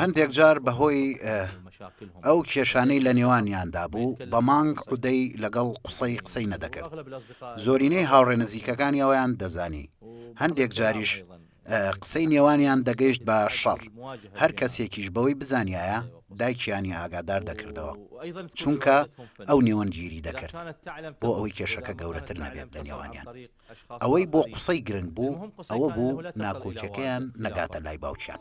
هەندێک جار بەهۆی ئەو کێشانەی لە نێوانیاندا بوو بە مانگ عودەی لەگەڵ قسەی قسەی نەدەکرد زۆرینەی هاوڕێ نزیکەکانی ئەویان دەزانی هەندێک جاریش قسەی نێوانیان دەگەیشت بە شەڕ هەر کەسێکیش بەوەی بزانایە دایکیانی ئاگادار دەکردەوە چونکە ئەو نێوەندگیری دەکرد بۆ ئەوەی کێشەکە گەورەتر نەبێت لە نێوانیان ئەوەی بۆ قسەی گرنگ بوو ئەوە بوو ناکۆکیەکەیان نەگاتە لای باوکیان.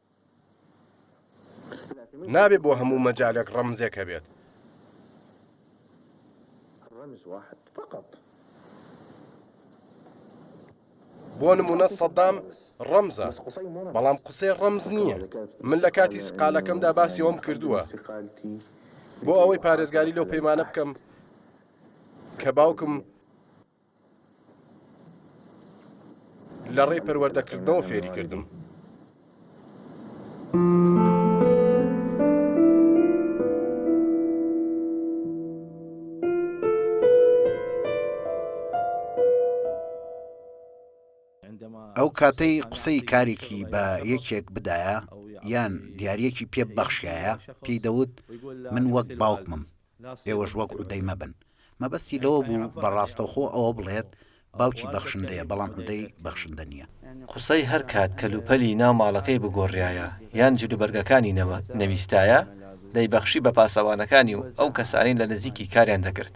نابێت بۆ هەموو مەجالێک ڕەمزێک هەبێت. بۆ نمونە سەدام ڕەمزە بەڵام قسەی ڕەمز نییە من لە کاتی سقالەکەمدا باسی ئەوم کردووە بۆ ئەوەی پارێزگاری لەو پەیمانە بکەم کە باوکم لەڕێی پەروەردەکردنەوە فێری کردم. ئەو کاتەی قسەی کارێکی بە یەکێک بدایە یان دیارەکی پێ بەخشایە پێی دەوت من وەک باوکمم ئێوەش وەک عودەی مەبن. مەبەستی لەوە بوو بە ڕاستەوخۆ ئەوە بڵێت باوکی بەخشندەیە بەڵام عودەی بەخشندە نییە. قوسەی هەر کات کەلوپەلی ناو ماڵەکەی بگۆڕرایە یان جلوبەرگەکانی نەویستایە، دەیبەخشی بە پاسەوانەکانی و ئەو کەسانەی لە نزیکی کاریان دەکرد.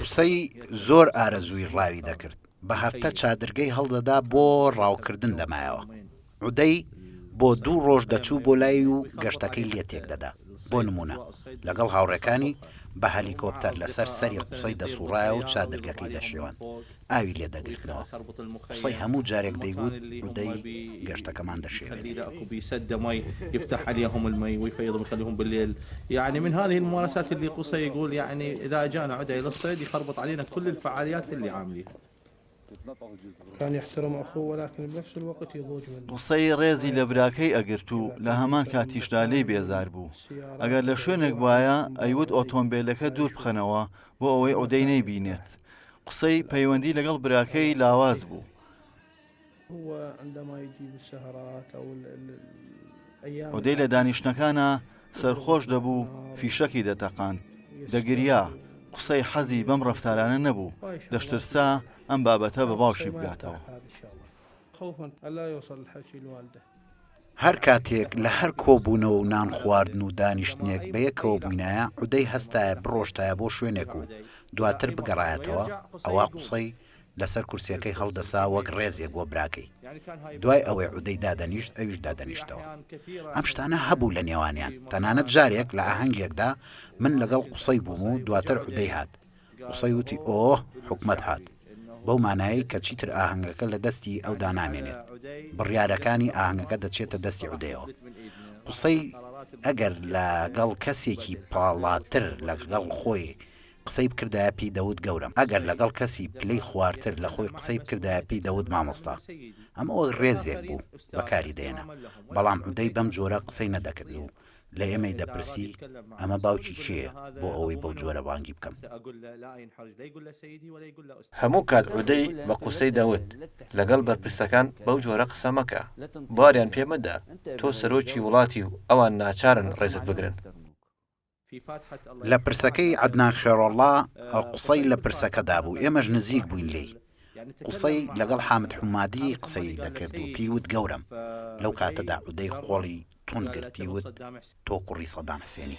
قسەی زۆر ئارەزووی ڕاوی دەکرد، بە هەفتە چادرگەی هەڵدەدا بۆ ڕاوکردن لە مایەوە. عودەی بۆ دوو ڕۆژ دەچوو بۆ لای و گەشتەکەی لێ تێکدەدا. بۆ نموونە، لەگەڵ هاوڕێکانی بە هەلیکۆپتەر لەسەر سەری قوسەی دەسووڕایەوە و چادرگەکەی دەشێواند، ئاوی لێ دەگرتنەوە. قوسەی هەموو جارێک دەیگوت، عودەی گەشتەکەمان دەشێوێنێت. قسەی ڕێزی لە براکەی ئەگرت و لە هەمان کاتیشدا لێی بێزار بوو ئەگەر لە شوێنێک وایە ئەیوت ئۆتۆمبیلەکە دوور بخەنەوە بۆ ئەوەی ئۆدەی نەیبینێت قسەی پەیوەندی لەگەڵ براکەی لاواز بوو ئۆدێی لە دانیشتنەکانا سەرخۆش دەبوو فیشەکی دەتەقاند دەگریا قسەی حەزی بەم ڕفتارانە نەبوو دەشترسا ئەم بابەتە بە باوشی بگاتەوە. هەر کاتێک لە هەر کۆبوونەوە و نان خواردن و دانیشتنێک بە یەکەوە بووینایە عودەی هەستایە بڕۆشتایە بۆ شوێنێک و دواتر بگەڕایەتەوە ئەوا قسەی لەسەر کورسیەکەی هەڵدەسا وەک ڕێزێک بۆ براکەی دوای ئەوەی عودەی دادەنیشت ئەویش دادەنیشتەوە ئەم شتانە هەبوو لە نێوانیان تەنانەت جارێک لە ئاهەنگێکدا من لەگەڵ قوسەی بووم و دواتر عودەی هات قوسەی وتی ئۆۆه حکومەت هات بەو مانایەی کە چیتر ئاهەنگەکە لە دەستی ئەودا نامێنێت بڕیارەکانی ئاهەنگەکە دەچێتە دەستی عودەیەوە قوسەی ئەگەر لەگەڵ کەسێکی پاڵاتر لەگەڵ خۆی قسەی بکردایە پی دەوت گەورەم ئەگەر لەگەڵ کەسی پلەی خوارتر لە خۆی قسەی بکردایە پی دەوت مامۆستا ئەمە وەک ڕێزێک بوو بەکاری دەێنا بەڵام عودەی بەم جۆرە قسەی نەدەکرد و لە ئێمەی دەپرسی ئەمە باوکی کێیە بۆ ئەوەی بەو جۆرە بانگی بکەم. هەموو کات عودەی بە قسەی دەوت لەگەڵ بەرپرسەکان بەو جۆرە قسە مەکە باریان پێ مەدە تۆ سەرۆکی وڵاتی و ئەوان ناچارن ڕێزت بگرن. لە پرسەکەی عەدنان خێرۆڵڵا قوسەی لە پرسەکەدا بوو ئێمەش نزیک بووین لێی قوسەی لەگەڵ حامد حومادی قسەی دەکرد و پێی وت گەورەم لەو کاتەدا عودەی قۆڵی توند گرت پێی وت تۆ کوڕی سەدام حسێنی.